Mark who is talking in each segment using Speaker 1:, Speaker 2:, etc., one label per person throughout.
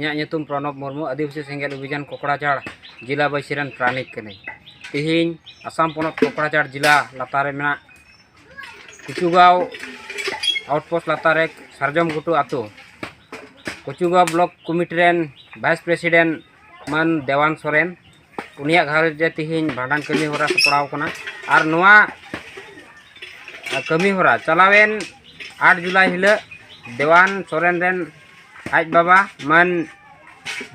Speaker 1: ᱤᱧᱟᱹᱜ ᱧᱩᱛᱩᱢ ᱯᱨᱚᱱᱚᱵ ᱢᱩᱨᱢᱩ ᱟᱹᱫᱤᱵᱟᱹᱥᱤ ᱥᱮᱸᱜᱮᱞ ᱚᱵᱷᱤᱡᱟᱱ ᱠᱚᱠᱲᱟᱡᱷᱟᱲ ᱡᱮᱞᱟ ᱵᱟᱹᱭᱥᱤ ᱨᱮᱱ ᱯᱨᱟᱱᱤᱠ ᱠᱟᱹᱱᱟᱹᱧ ᱛᱮᱦᱮᱧ ᱟᱥᱟᱢ ᱯᱚᱱᱚᱛ ᱠᱚᱠᱲᱟᱡᱷᱟᱲ ᱡᱮᱞᱟ ᱞᱟᱛᱟᱨ ᱨᱮ ᱢᱮᱱᱟᱜ ᱠᱩᱪᱩᱜᱟᱸᱣ ᱟᱣᱩᱴᱯᱳᱥᱴ ᱞᱟᱛᱟᱨ ᱨᱮ ᱥᱟᱨᱡᱚᱢ ᱜᱷᱩᱴᱩ ᱟᱛᱳ ᱠᱩᱪᱩᱜᱟᱸᱣ ᱵᱞᱚᱠ ᱠᱚᱢᱤᱴᱤ ᱨᱮᱱ ᱵᱷᱟᱭᱤᱥ ᱯᱨᱮᱥᱤᱰᱮᱱᱴ ᱢᱟᱱ ᱫᱮᱣᱟᱱ ᱥᱚᱨᱮᱱ ᱩᱱᱤᱭᱟᱜ ᱜᱷᱟᱨᱚᱸᱡᱽ ᱨᱮ ᱛᱮᱦᱮᱧ ᱵᱷᱟᱸᱰᱟᱱ ᱠᱟᱹᱢᱤ ᱦᱚᱨᱟ ᱥᱟᱯᱲᱟᱣ ᱠᱟᱱᱟ ᱟᱨ ᱱᱚᱣᱟ ᱠᱟᱹᱢᱤ ᱦᱚᱨᱟ ᱪᱟᱞᱟᱣᱮᱱ ᱟᱴ ᱡᱩᱞᱟᱭ ᱦᱤᱞᱳᱜ ᱫᱮᱣᱟᱱ ᱥᱚᱨᱮᱱ ᱨᱮᱱ ᱟᱡ ᱵᱟᱵᱟ ᱢᱟᱹᱱ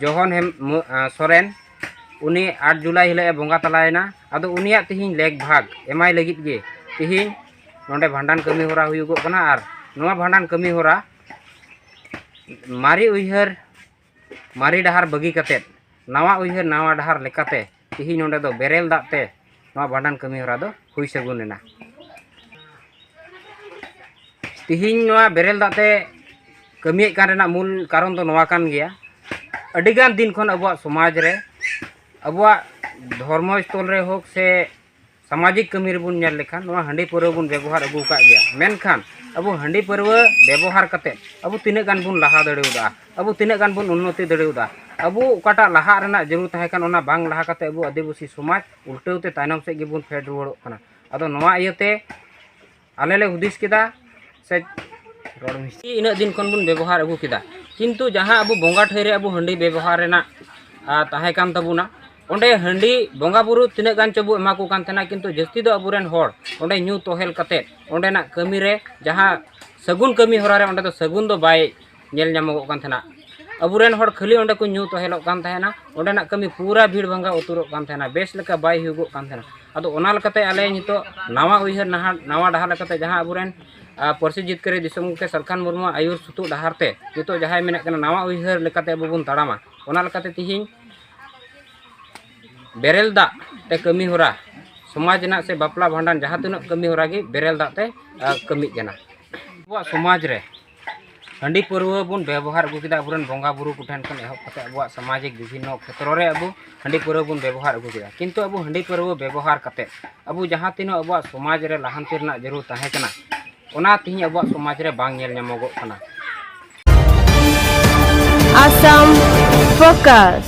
Speaker 1: ᱡᱚᱦᱚᱱ ᱦᱮᱢ ᱥᱚᱨᱮᱱ ᱩᱱᱤ ᱟᱴ ᱡᱩᱞᱟᱭ ᱦᱤᱞᱳᱜ ᱮ ᱵᱚᱸᱜᱟ ᱛᱟᱞᱟᱭᱮᱱᱟ ᱟᱫᱚ ᱩᱱᱤᱭᱟᱜ ᱛᱮᱦᱮᱧ ᱞᱮᱠ ᱵᱷᱟᱜᱽ ᱮᱢᱟᱭ ᱞᱟᱹᱜᱤᱫ ᱜᱮ ᱛᱮᱦᱮᱧ ᱱᱚᱰᱮ ᱵᱷᱟᱸᱰᱟᱱ ᱠᱟᱹᱢᱤ ᱦᱚᱨᱟ ᱦᱩᱭᱩᱜᱚᱜ ᱠᱟᱱᱟ ᱟᱨ ᱱᱚᱣᱟ ᱵᱷᱟᱸᱰᱟᱱ ᱠᱟᱹᱢᱤ ᱦᱚᱨᱟ ᱢᱟᱨᱮ ᱩᱭᱦᱟᱹᱨ ᱢᱟᱨᱮ ᱰᱟᱦᱟᱨ ᱵᱟᱹᱜᱤ ᱠᱟᱛᱮ ᱱᱟᱣᱟ ᱩᱭᱦᱟᱹᱨ ᱱᱟᱣᱟ ᱰᱟᱦᱟᱨ ᱞᱮᱠᱟᱛᱮ ᱛᱮᱦᱮᱧ ᱱᱚᱰᱮ ᱫᱚ ᱵᱮᱨᱮᱞ ᱫᱟᱜ ᱛᱮ ᱱᱚᱣᱟ ᱵᱷᱟᱸᱰᱟᱱ ᱠᱟᱹᱢᱤ ᱦᱚᱨᱟ ᱫᱚ ᱦᱩᱭ ᱥᱟᱹᱜᱩᱱ ᱮᱱᱟ ᱛᱮᱦᱮᱧ ᱱᱚᱣᱟ ᱵᱮᱨᱮᱞ ᱫᱟᱜ ᱛᱮ ᱠᱟᱹᱢᱤᱭᱮᱫ ᱠᱟᱱ ᱨᱮᱱᱟᱜ ᱢᱩᱞ ᱠᱟᱨᱚᱱ ᱫᱚ ᱱᱚᱣᱟ ᱠᱟᱱ ᱜᱮᱭᱟ ᱟᱹᱰᱤᱜᱟᱱ ᱫᱤᱱ ᱠᱷᱚᱱ ᱟᱵᱚᱣᱟᱜ ᱥᱚᱢᱟᱡᱽ ᱨᱮ ᱟᱵᱚᱣᱟᱜ ᱫᱷᱚᱨᱢᱚ ᱥᱛᱷᱚᱞ ᱨᱮ ᱦᱳᱠ ᱥᱮ ᱥᱟᱢᱟᱡᱤᱠ ᱠᱟᱹᱢᱤ ᱨᱮᱵᱚᱱ ᱧᱮᱞ ᱞᱮᱠᱷᱟᱱ ᱱᱚᱣᱟ ᱦᱟᱺᱰᱤ ᱯᱟᱹᱨᱣᱟᱹ ᱵᱚᱱ ᱵᱮᱵᱚᱦᱟᱨ ᱟᱹᱜᱩ ᱟᱠᱟᱫ ᱜᱮᱭᱟ ᱢᱮᱱᱠᱷᱟᱱ ᱟᱵᱚ ᱦᱟᱺᱰᱤ ᱯᱟᱹᱨᱣᱟᱹ ᱵᱮᱵᱚᱦᱟᱨ ᱠᱟᱛᱮ ᱟᱵᱚ ᱛᱤᱱᱟᱹᱜ ᱜᱟᱱ ᱵᱚᱱ ᱞᱟᱦᱟ ᱫᱟᱲᱮᱭᱟᱫᱟ ᱟᱵᱚ ᱛᱤᱱᱟᱹᱜ ᱜᱟᱱ ᱵᱚᱱ ᱩᱱᱱᱚᱛᱤ ᱫᱟᱲᱮᱭᱟᱫᱟ ᱟᱵᱚ ᱚᱠᱟᱴᱟᱜ ᱞᱟᱦᱟᱜ ᱨᱮᱱᱟᱜ ᱡᱟᱹᱨᱩᱲ ᱛᱟᱦᱮᱸ ᱠᱟᱱᱟ ᱚᱱᱟ ᱵᱟᱝ ᱞᱟᱦᱟ ᱠᱟᱛᱮ ᱟᱵᱚ ᱟᱹᱫᱤᱵᱟᱹᱥᱤ ᱥᱚᱢᱟᱡᱽ ᱩᱞᱴᱟᱹᱣ ᱛᱮ ᱛᱟᱭᱱᱚᱢ ᱥᱮᱫ ᱜᱮᱵᱚᱱ ᱯᱷᱮᱰ ᱨᱩᱣᱟᱹᱲᱚᱜ ᱠᱟᱱᱟ ᱟᱫᱚ ᱱᱚᱣᱟ ᱤᱭᱟᱹᱛᱮ ᱟᱞᱮ ᱞᱮ ᱦᱩᱫᱤᱥ ᱠᱮᱫᱟ ᱥᱮ ᱨᱚᱲ ᱢᱤᱥᱴᱤ ᱤᱱᱟᱹᱜ ᱫᱤᱱ ᱠᱷᱚᱱ ᱵᱚᱱ ᱵᱮᱵᱚᱦᱟᱨ ᱟᱹᱜᱩ ᱠᱮᱫᱟ ᱠᱤᱱᱛᱩ ᱡᱟᱦᱟᱸ ᱟᱵᱚ ᱵᱚᱸᱜᱟ ᱴᱷᱟᱹᱭ ᱨᱮ ᱟᱵᱚ ᱦᱟᱺᱰᱤ ᱵᱮᱵᱚᱦᱟᱨ ᱨᱮᱱᱟᱜ ᱛᱟᱦᱮᱸ ᱠᱟᱱ ᱛᱟᱵᱚᱱᱟ ᱚᱸᱰᱮ ᱦᱟᱺᱰᱤ ᱵᱚᱸᱜᱟ ᱵᱩᱨᱩ ᱛᱤᱱᱟᱹᱜ ᱜᱟᱱ ᱪᱚᱵᱚ ᱮᱢᱟ ᱠᱚ ᱠᱟᱱ ᱛᱟᱦᱮᱱᱟ ᱠᱤᱱᱛᱩ ᱡᱟᱹᱥᱛᱤ ᱫᱚ ᱟᱵᱚᱨᱮᱱ ᱦᱚᱲ ᱚᱸᱰᱮ ᱧᱩ ᱛᱚᱦᱮᱞ ᱠᱟᱛᱮᱫ ᱚᱸᱰᱮᱱᱟᱜ ᱠᱟᱹᱢᱤ ᱨᱮ ᱡᱟᱦᱟᱸ ᱥᱟᱹᱜᱩᱱ ᱠᱟᱹᱢᱤ ᱦᱚᱨᱟ ᱨᱮ ᱚᱸᱰᱮ ᱫᱚ ᱥᱟᱹᱜᱩᱱ ᱫᱚ ᱵᱟᱭ ᱧᱮᱞ ᱧᱟᱢᱚᱜᱚᱜ ᱠᱟᱱ ᱛᱟᱦᱮᱱᱟ ᱟᱵᱚᱨᱮᱱ ᱦᱚᱲ ᱠᱷᱟᱹᱞᱤ ᱚᱸᱰᱮ ᱠᱚ ᱧᱩ ᱛᱚᱦᱮᱞᱚᱜ ᱠᱟᱱ ᱛᱟᱦᱮᱱᱟ ᱚᱸᱰᱮᱱᱟᱜ ᱠᱟᱹᱢᱤ ᱯᱩᱨᱟᱹ ᱵᱷᱤᱲ ᱵᱷᱟᱝᱜᱟ ᱩᱛᱟᱹᱨᱚᱜ ᱠᱟᱱ ᱛᱟᱦᱮᱱᱟ ᱵᱮᱥ ᱞᱮᱠᱟ ᱵᱟᱭ ᱦᱩᱭᱩᱜᱚᱜ ᱠᱟᱱ ᱛᱟᱦᱮᱱᱟ ᱟᱫᱚ ᱚᱱᱟ ᱞᱮᱠᱟᱛᱮ ᱟᱞᱮ ᱱᱤᱛᱚᱜ ᱱᱟᱣᱟ ᱩᱭᱦᱟᱹᱨ ᱱᱟᱦᱟᱜ ᱱᱟᱣᱟ ᱰᱟᱦᱟᱨ ᱞᱮᱠᱟᱛᱮ ᱡᱟᱦᱟᱸ ᱟᱵᱚᱨᱮᱱ ᱯᱟᱹᱨᱥᱤ ᱡᱤᱛᱠᱟᱹᱨᱤ ᱫᱤᱥᱚᱢ ᱜᱚᱢᱠᱮ ᱥᱟᱞᱠᱷᱟᱱ ᱢᱩᱨᱢᱩ ᱟᱹᱭᱩᱨ ᱥᱩᱛᱩᱜ ᱰᱟᱦᱟᱨ ᱛᱮ ᱱᱤᱛᱚᱜ ᱡᱟᱦᱟᱸᱭ ᱢᱮᱱᱮᱫ ᱠᱟᱱᱟ ᱱᱟᱣᱟ ᱩᱭᱦᱟᱹᱨ ᱞᱮᱠᱟᱛᱮ ᱟᱵᱚ ᱵᱚᱱ ᱛᱟᱲᱟᱢᱟ ᱚᱱᱟ ᱞᱮᱠᱟᱛᱮ ᱛᱤᱦᱤᱧ ᱵᱮᱨᱮᱞ ᱫᱟᱜ ᱛᱮ ᱠᱟᱹᱢᱤ ᱦᱚᱨᱟ ᱥᱚᱢᱟᱡᱽ ᱨᱮᱱᱟᱜ ᱥᱮ ᱵᱟᱯᱞᱟ ᱵᱷᱟᱸᱰᱟᱱ ᱡᱟᱦᱟᱸ ᱛᱤᱱᱟᱹᱜ ᱠᱟᱹᱢᱤ ᱦᱚᱨᱟ ᱜᱮ ᱵᱮᱨᱮᱞ ᱫᱟᱜ ᱛᱮ ᱠᱟᱹᱢᱤᱜ ᱠᱟᱱᱟ ᱟᱵᱚᱣᱟᱜ ᱥᱚᱢᱟᱡᱽ ᱨᱮ ᱦᱟᱺᱰᱤ ᱯᱟᱹᱨᱣᱟᱹ ᱵᱚᱱ ᱵᱮᱵᱚᱦᱟᱨ ᱟᱹᱜᱩ ᱠᱮᱫᱟ ᱟᱵᱚᱨᱮᱱ ᱵᱚᱸᱜᱟ ᱵᱩᱨᱩ ᱠᱚᱴᱷᱮᱱ ᱠᱷᱚᱱ ᱮᱦᱚᱵ ᱠᱟᱛᱮ ᱟᱵᱚᱣᱟᱜ ᱥᱟᱢᱟᱡᱤᱠ ᱵᱤᱵᱷᱤᱱᱱᱚ ᱠᱷᱮᱛᱨᱚ ᱨᱮ ᱟᱵᱚ ᱦᱟᱺᱰᱤ ᱯᱟᱹᱨᱣᱟᱹ ᱵᱚᱱ ᱵᱮᱵᱚᱦᱟᱨ ᱟᱹᱜᱩ ᱠᱮᱫᱟ ᱠᱤᱱᱛᱩ ᱟᱵᱚ ᱦᱟᱺᱰᱤ ᱯᱟᱹᱨᱣᱟᱹ ᱵᱮᱵᱚᱦᱟᱨ ᱠᱟᱛᱮ ᱟᱵᱚ ᱡᱟᱦᱟᱸ ᱛᱤᱱᱟᱹᱜ ᱟᱵᱚᱣᱟᱜ ᱥᱚᱢᱟᱡᱽ ᱨᱮ ᱞᱟᱦᱟᱱᱛᱤ ᱨᱮᱱᱟᱜ ᱡᱟᱹᱨᱩᱲ ᱛᱟᱦᱮᱸ ᱠᱟᱱᱟ ᱚᱱᱟ ᱛᱮᱦᱮᱧ ᱟᱵᱚᱣᱟᱜ ᱥᱚᱢᱟᱡᱽ ᱨᱮ ᱵᱟᱝ ᱧᱮᱞ ᱧᱟᱢᱚᱜᱚᱜ ᱠᱟᱱᱟ ᱟᱥᱟᱢ
Speaker 2: ᱯᱷᱳᱠᱟᱥ